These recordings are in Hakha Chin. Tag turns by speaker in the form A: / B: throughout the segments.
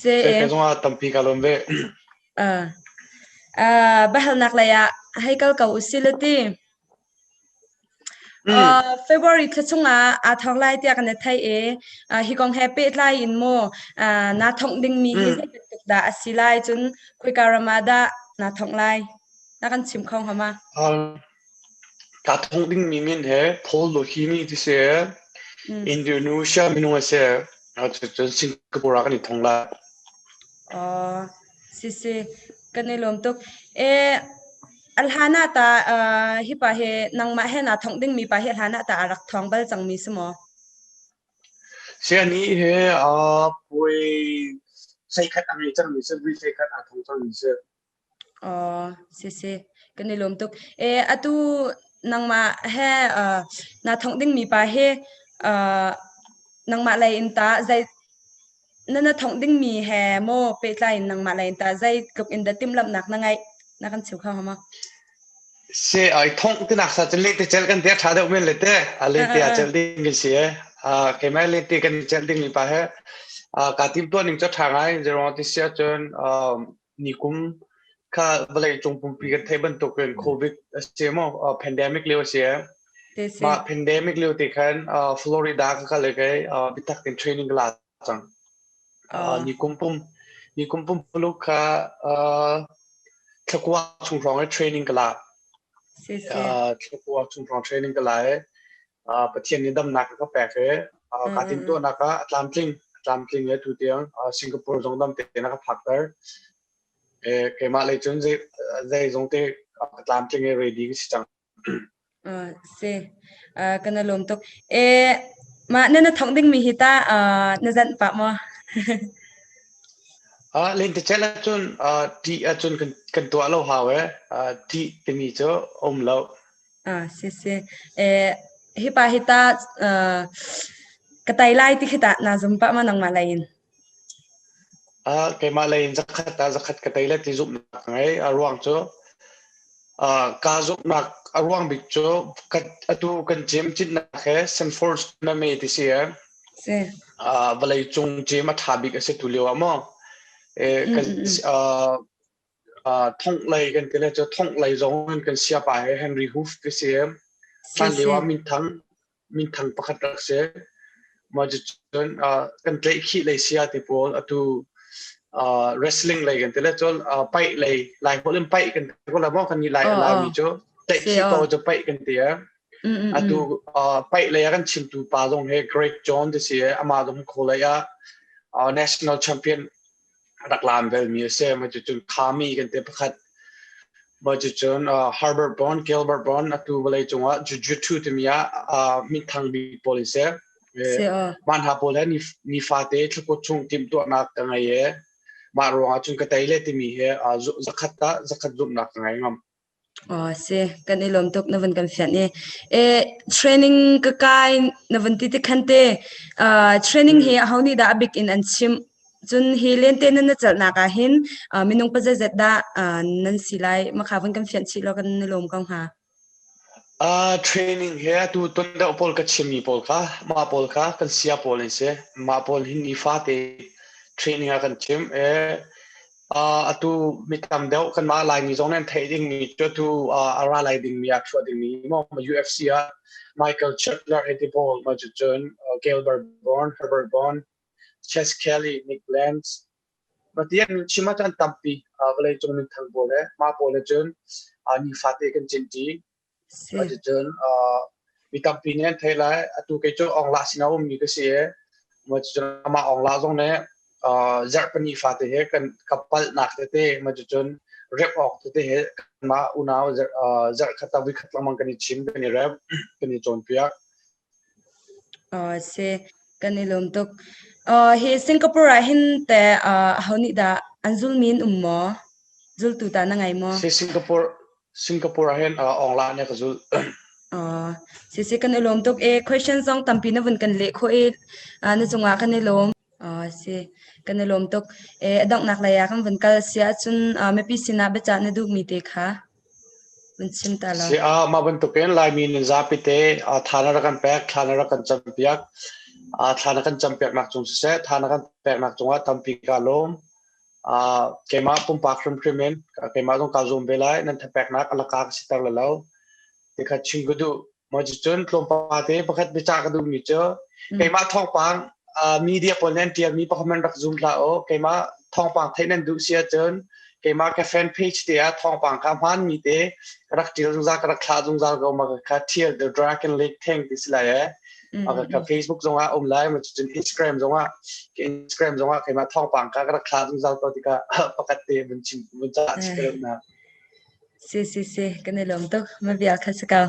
A: Sehte zong ah tampi
B: ka lawm ve.
A: Bahalnak lei ah hei kal ko usih lati. February thla chung ah aa thawng lai tiah kan i thei i hi kong he pehtlai in maw naa thawng dingmi hi zeibantuk dah a si lai cun khoika ram ah dah naa thawng lai na kan chim kho hnga ma?
B: Kaa thawng dingmi min he Pollohimi ti si i Indonesia minung a si. Cun Singapore ah kan i thong lai. Oh,
A: si si kan i lawm tuk. E alhana ta hi pa he nangmah he na thong dingmi pa he alhana ta rak thong bal cangmi si maw?
B: Siani he a poi sai khat a ngei cangmi si, vui sai khat a thong cangmi si. Oh,
A: si si. Kan i lawm tuk. E, atu nangmah he uh, na thongh dingmi pa hi uh, nangmah lei in ta zei na na thongh dingmi he mo pehtlai in nangmah lei in ta zei tluk in dah timhlamhnak na ngeih na kan cheu kha hama
B: se ai thong ti nak sa chen le te chel kan dia tha deuh men le te a le te a chel ding mi si e a ke mai le te kan chel ding mi pa he a ka tim to ning cho tha ngai zero ti sia chun Nikum kha vawleicung pumpi kan theih bantuk in COVID a si maw pandemic lio a si. Mah pandemic lio te khan Florida ka kale kai bitak in training ka la cang. Nikum pum nikum pum pulu kha thlakua chung hrawng e training ka la. Thlakua chung hrawng training ka la e. Pathian nih damnak a ka pek i kaa timhtuahnak ah a tlamtling a tlamtling i tutiang Singapore zong dam tein a ka phakter. Keimah lei cun zeizong te ka tlamtling i ready ka si cang. Si, kana
A: lawm tuk. Mah na na thawk dingmi hi ta na zanh pah maw?
B: Lentecelh ahcun tih ahcun kan tuah lo hau i tih timi cu um lo. Ah si si.
A: Eh hipa hi ta uh, ka tai lai ti khi tah naa zum pah ma nangmah lei in? Ah keimah lei in zakhat ah zakhat ka tai le ti zumhnak ka ngei. A ruang cu uh, kaa zumhnak
B: a ruang bik cu kan atu kan gym citnak he St Paul's tournament ti si eh. Si. Uh, vawlei cung gym a tha bik a si tu lio ah maw. Eh, ka, mm, mm, mm. uh, Thonghlei kan ti le cu thonghlei zong an kan siapa hi Henry Hoof ka si em. Hlan lio ah minthang minthang pakhat rak si. Mah cun kan tleih khih lei sia ti pawl atu wrestling lei kan ti le cun paih lei lai hol in paih kan ti ko la maw kan ni lai ala mi cu tleih khih ko cu paih kan ti eh. Atu paih lei ah kan chimtu pa zong hi Greg John ti si amah zong kho lei ah national champion rak laam velmi a si. Mah cucun khami kan ti pakhat. Mah cucun uh, Herbert Bond, Gilbert Bond atu vawlei cungah jujutsu timi ah uh, minthang bik pawl in si. Man ha pawl he ni fate thlakut chung tim tuahnak ka ngei e. Mah ruangah cun ka tei le timi he uh, zakhat ta
A: zakhat zumhnak ka ngei ngam. Aw si, kan i lawm tuk na vun kan fianh i eh training ka kai na vun ti ti khan te uh, training hi ho nih dah a bik in an chim cun hi lente nan na celhnak ah hin uh, minung pa zeizat dah uh, nan si lai makha vun kan fianh chih
B: law kan na lawm ko hnga Uh, training he tu ton deuh pawl ka chimmi pawl kha mah pawl kha kan sia pawl an si mah pawl hi nifate training ah kan chim e atu mi tam deuh kanmah Laimi zong nan theih dingmi cu tu a ra lai dingmi a chuah dingmi maw UFC ah Michael Chandler Edibol ma cu cun Gilbert Bourne Herbert Bourne Chase Kelly Nick Lance matian chima chan tampi vawleicung min thang pawl le ma pawl le cun ni fate kan cin ti Cuticun mi tampi nih an thei lai. Atu kei cu Ongla sinah um mi ka si i cucun amah Ongla zong nih zarh pahnih fate he kan ka palhnak tete cucun remh awk tete he kanmah unau zarh khat le voikhat lengmang kan i chim, kan i remh, kan i cawnpiak. Oh
A: si kan i lawm tuk. Uh, hi Singapore ah hin te uh, ho nih dah an zulmi an um maw? Zultu
B: ta na
A: ngai maw?
B: Si Singapore Singapore
A: ah hin
B: uh,
A: online ne
B: ka zul. Oh,
A: si si kan i lawm tuk e question zong tampi na vun kan leh kho e uh, na cungah kan i lawm. Ah si kan i lawm tuk. E a donghnak lei ah kan vun kal si ahcun ah mipi sinah biacah na duhmi te kha
B: vun chim ta law. Si ah mah bantuk in Laimi nan zapi te ah tha na rak kan pek, thla na rak kan campiak. Ah thla na kan campiak nak cung siseh, tha na kan pek nak cung ah tampi ka lawm. Ah keimah pumpak hrimhrim in ah keimah zong ka zum ve lai nan thapek nak alaka ka sitar lalau. Tikhat chin gudu maw cu cun tlawmpal te pakhat biacah ka duhmi cu hmm. keimah thawngpang media pawl nan tialmi pakhat man rak zum hlah o keimah thawngpang theih nan duh si ahcun keimah ka fan page te ah thawngpang kha hmanmi te rak tial zungzal ka rak thla zungzal ko ma ka thial the dragon lake theng ti si lai eh ka ka facebook zongah um lai ma cun instagram zongah instagram zongah keimah thawngpang ka rak thla zungzal to tika pakhat te mun chin mun cha chi ka na Si,
A: kan i lawm tuk. Ma bia kha si ko.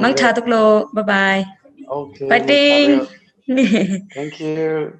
B: Mangtha tuk law. Bye bye. Okay.
A: Fighting.
B: Thank you.